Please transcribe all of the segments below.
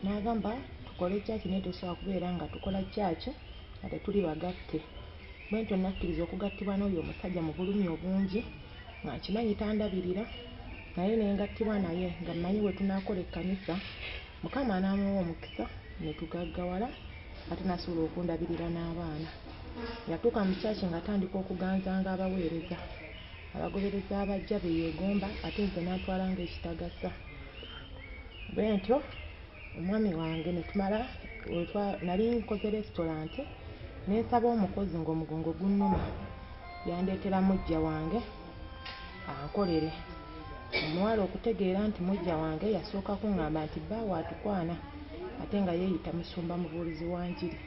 n'agamba tukole kyaki naye tosobola kubeera nga tukola kyaki nga tetuli bagatte bwentyo nakkiriza okugattibwa n'oyo omusajja mu bulumi obungi nga nkimanyi tandabirira naye ne ngattibwa naye nga mmanyi bwe tunaakola ekkanisa mukama n'amuwa omukisa ne tugaggawala ate n'asobola okundabirira n'abaana yatuuka mu kyaki ng'atandika okuganzanga abaweereza abagoberezi abaggya be yeegomba ate nze n'antwala ng'ekitagasa. Bwentyo omwami wange ne tumala nali nkoze lesitulante ne nsaba omukozi ng'omugongo gunnuma yandeetera muggya wange ankolere. Omuwala okutegeera nti muggya wange yasooka kung'amba nti bbaawe atukwana ate nga yeeyita musumba mubuulizi wa njiri.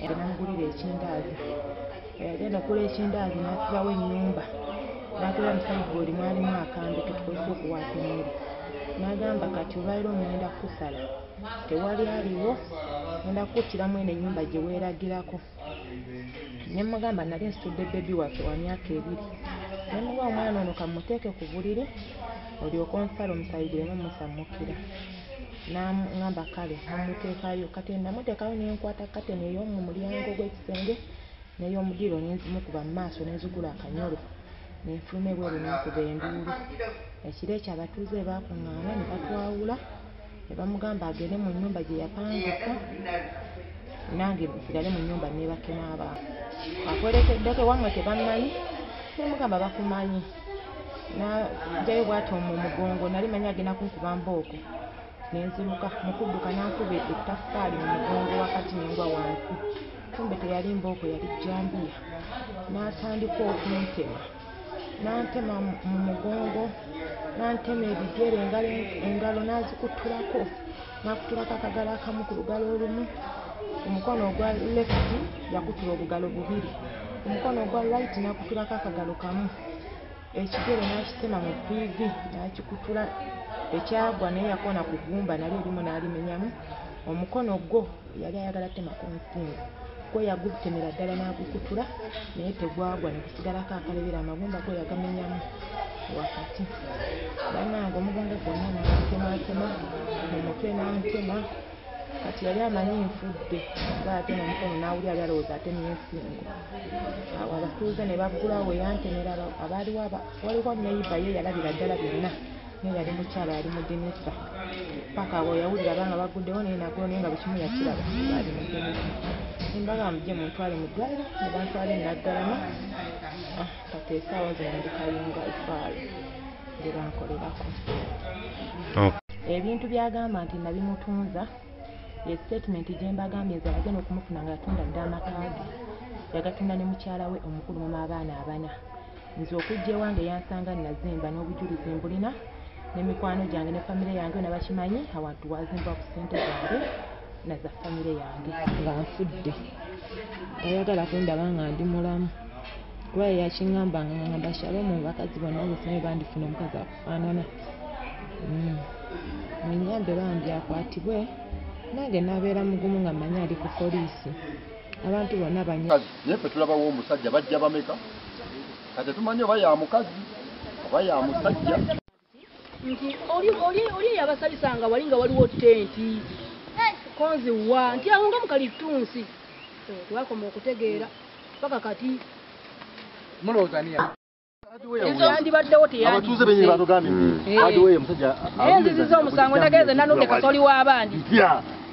namugulira ekindaazi yagenda okula ekindaazi n'asibawo ennyumba n'atula mu sayiboodi mwalimu akambe ke tukozesa okuwaasa emmere n'agamba kati olwaliro ŋŋenda kukusala tewali aliwo ŋenda kukuttiramu eno ennyumba gye weeragirako ne mugamba nali nsitudde bebi waffe wa myaka ebiri ne muwa omwana ono kamuteeke ku buliri olyoke onsala omusayi guleme musammukira N'aŋŋamba, Kale, mumuteekayo. Kati nnamuteekayo ne nkwata kateni ey'omu mulyango gw'ekisenge n'ey'omu ddiiro ne nzimukuba mu maaso ne nzigula akanyolo ne nfuluma ebweru ne nkuba enduulu. Ekiro ekyo abatuuze bwe baakuŋŋaana ne batwawula ne bamugamba agende mu nnyumba gye yapangisa nange nsigale mu nnyumba nneebake n'abantu. Akwerekeddeko ewammwe tebammanyi? Ne mmugamba, Bakumanyi. najayo bwati omu mugongo nali manyi agenda kunkuba mbooko nenziruka mukudduka nankuba ettaffaali mu mugongo wakati nengwa wansi kumbe teyali mbooko yali jambiya natandika okuntema nantema mu mugongo nantema ebigere engalo nazikutulako nakutulako akagalo akamu ku lugalo olumu omukono ogwa left yakutula obugalo bubiri omukono ogwa right nakutulako akagalo kamu ekigere nakitema mu piivi nakikutula ekyagwa naye yakona ku gumba nali erimu nalimenyamu omukono gwo yali ayagala tema ku nsinga gwe yagutemera ddala n'agukutula naye tegwagwa ne kusigalako akalebera amagumba gwe yagamenyamu wakati banange omugongo gwonna nantematema mu mutwe nantema kati yali amanyi nfudde nga ate nomukono nawuli ali alowooza ate nensingo awo abatuuze ne baggulawo weyantemera abaaliwo waliwo neyiba ye yalabira ddala byonna naye yali mukyala yali mudinisa paka abo yawulira abanga baguddewo naye nagoo naye nga bukimu yakiraba ali mudinisa nembaga mujje muntwale mu ddwaliro ne bantwala enaggalama ah, kati esaawa zino ndi kayunga efaalo gye bankolerako ebintu byagamba nti nabimutunza ye statement gye mbagambye nze abagenda okumufuna nga yatunda dda amaka ge yagatunda ne mukyala we omukulu mama abaana abana Nze okujja ewange yansanga nazimba n'obujulizi mbulina ne mikwano gyange ne famire yange yona bakimanyi awantu wazimbwa ku ssente zange na za famire yange. Nga nfudde tayagala kundaba nga ndi mulamu kuba yeyakingambanga nga ngamba Shalom mu bakazi bonna zesinaye bandifuna omukazi akufaanana hmm. munyambe bambi akwatibwe nange nabeera mugumu nga manyi ali ku poliisi abantu bonna banynaye fe tulabawo omusajja bajja bameka Katetumanyi oba ya mukazi oba ya musajja. Nti oli oli oli yabasabisa nga wali nga waliwo tenti. Konzi wa nti awo nga mukali tunsi. Eh, Twakoma okutegeera paka kati. Mulowooza niya. yandibaddewo teyabatuuze benyini batugambye nti hadiweyo omusajja nziziza omusango ndagenze nanudde kasoli w'abandi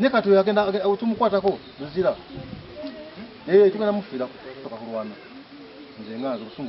ne kati agenda tumukwatako luzira eh, tugenda mufiirako toka kulwana nze nga nze